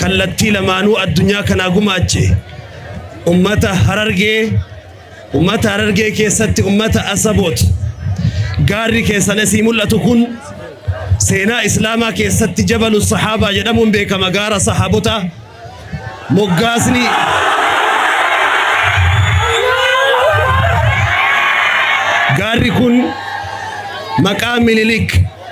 kallattii lamaanuu addunyaa kanaa gumaache ummata harargee ummata harargee keessatti ummata asaboot gaarri keessan asii mul'atu kun seenaa islaamaa keessatti jabalu sahaabaa jedhamuun beekama gaara sahaabota moggaasni gaarri kun maqaa minilik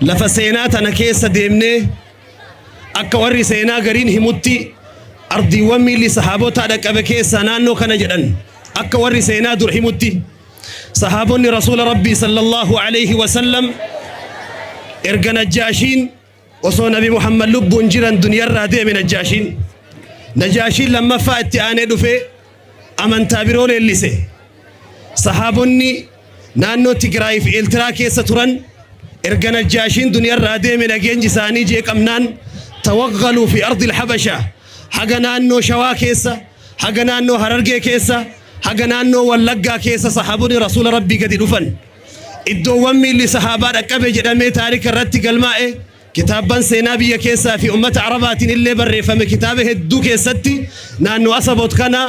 Lafa seenaa tana keessa deemnee akka warri seenaa gariin himutti ardiiwwan miilli sahaabotaa dhaqqabe keessaa naannoo kana jedhan akka warri seenaa dur himutti sahaabonni rasuula rabbii sallallahu alaihi wasallam erga najjaashiin osoo nabi muhammad lubbuun jiran duniyarraa deeme najjaashiin najaashiin lammaffaa itti aanee dhufee amantaa biroo leellise. Sahaabonni naannoo Tigraay fi Eeltiraa keessa turan erga Najjaashiin duniyarraa deeme nageenyi isaanii jeeqamnaan tawaggaluu fi ardil habasha haga naannoo Shawaa keessa haga naannoo Harargee keessa haga naannoo Wallaggaa keessa sahaabonni rasuula rabbii gadi dhufan. Iddoowwan miilli sahaabaa dhaqqabe jedhamee taarika irratti galmaa'e Kitaabban seenaa biyya keessaa fi ummata Arabaatiin illee barreeffame kitaaba hedduu keessatti naannoo Asabot kana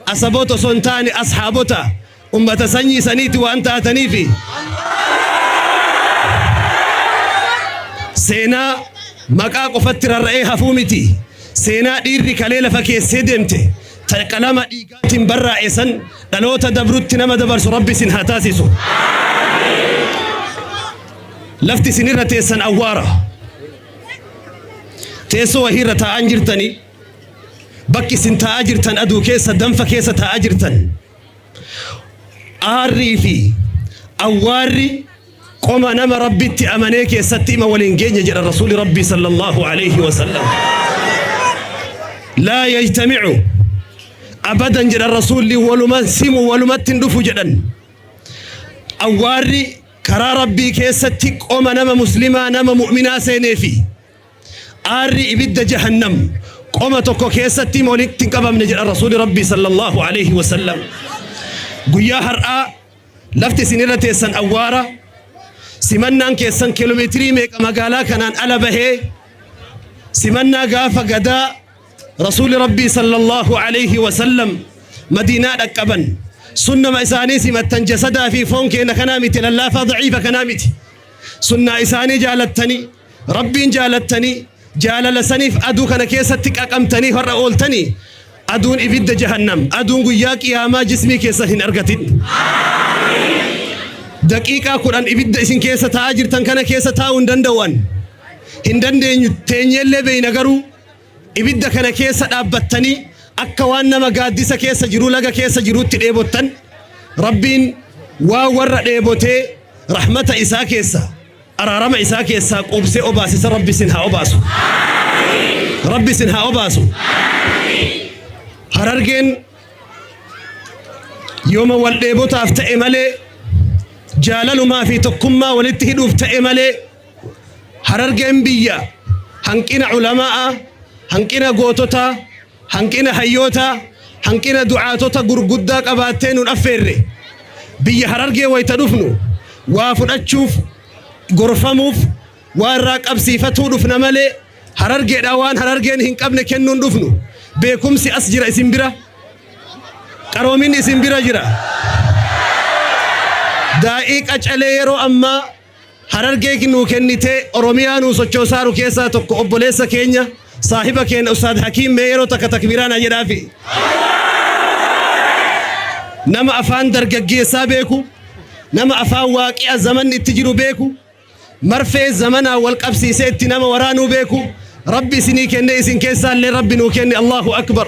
Asabot osoo hin taane Ashaabota ummata sanyii saniiti waan taataniifi seenaa maqaa qofatti rarra'ee hafuu miti seenaa dhiirri kalee lafa keessee deemte ta qalama dhiigaatiin barraa'e san dhaloota dabrutti nama dabarsu rabbi isin haa taasisu. Lafti isin irra teessan awwaara. Teessoo wahii irra taa'aa hin jirtanii? Bakki isin taa'aa jirtan aduu keessa danfa keessa taa'aa jirtan. Aarrii fi awwaarri qoma nama rabbitti amanee keessatti ima waliin geenye jedha rasuuli rabbii sallallahu alaihi wasallam. Laa yajtamicu abadan jedha rasuulli waluman simu walumatti hin dhufu jedhan. Awwaarri Karaa Rabbii keessatti qoma nama muslimaa nama mu'minaa seenee fi aarri ibidda jahannam qoma tokko keessatti walitti hin qabamne jedha Rasuuli Rabbii sallallahu alaihi wasallam. Guyyaa har'aa lafti isin irra teessan awwaara simannaan keessan kiiloomeetirii meeqa magaalaa kanaan ala bahee simannaa gaafa gadaa Rasuulli Rabbii sallallahu alayhi wa sallam Madiinaa dhaqqaban. Sunnama isaanii simattan jasadaa fi foon keenya kanaa miti lallaafaa daciifa kanaa miti. Sunnaa isaanii jaalattanii Rabbiin jaalattanii jaalala saniif aduu kana keessatti qaqamtanii har'a ooltanii aduun ibidda jahannam aduun guyyaa qiyaamaa jismii keessan hin argatin. Daqiiqaa kudhan ibidda isin keessa taa'aa jirtan kana keessa taa'uu hin danda'an. Hin dandeenyu teenyellee beeyna garuu Ibidda kana keessa dhaabbattanii akka waan nama gaaddisa keessa jiruu laga keessa jiruutti dheebottan Rabbiin waa warra dheebotee rahmata isaa keessa araarama isaa keessaa quubsee obaasisa Rabbi isin haa obaasu. Rabbi isin haa obaasu. Harargeen yooma wal dheebotaaf ta'e malee jaalalumaa fi tokkummaa walitti hidhuuf ta'e malee Harargeen biyya hanqina ulama'aa, hanqina goototaa, hanqina hayyootaa, hanqina du'aatota gurguddaa qabaattee nun affeerre. Biyya Harargee wayita dhufnu waa fudhachuuf, gorfamuuf, waa irraa qabsiifatuu dhufna malee Harargeedhaa waan Harargeen hin qabne kennuu hin dhufnu. Beekumsi as jira isin bira. Qaroominni isin bira jira. Daa'ii qacalee yeroo ammaa Harargee nuu kennitee Oromiyaa nuu sochoosaaru keessaa tokko obboleessa keenya saahiba keenya Ustaad Hakiim mee yeroo takka takbiiraa naa jedhaafi. Nama afaan dargaggeessaa beeku, nama afaan waaqi'a zamanni itti jiru beeku, marfee zamanaa wal qabsiisee itti nama waraanuu beeku, Rabbi isinii kennee isin keessaallee Rabbi nuu kenne Allahu Akbar.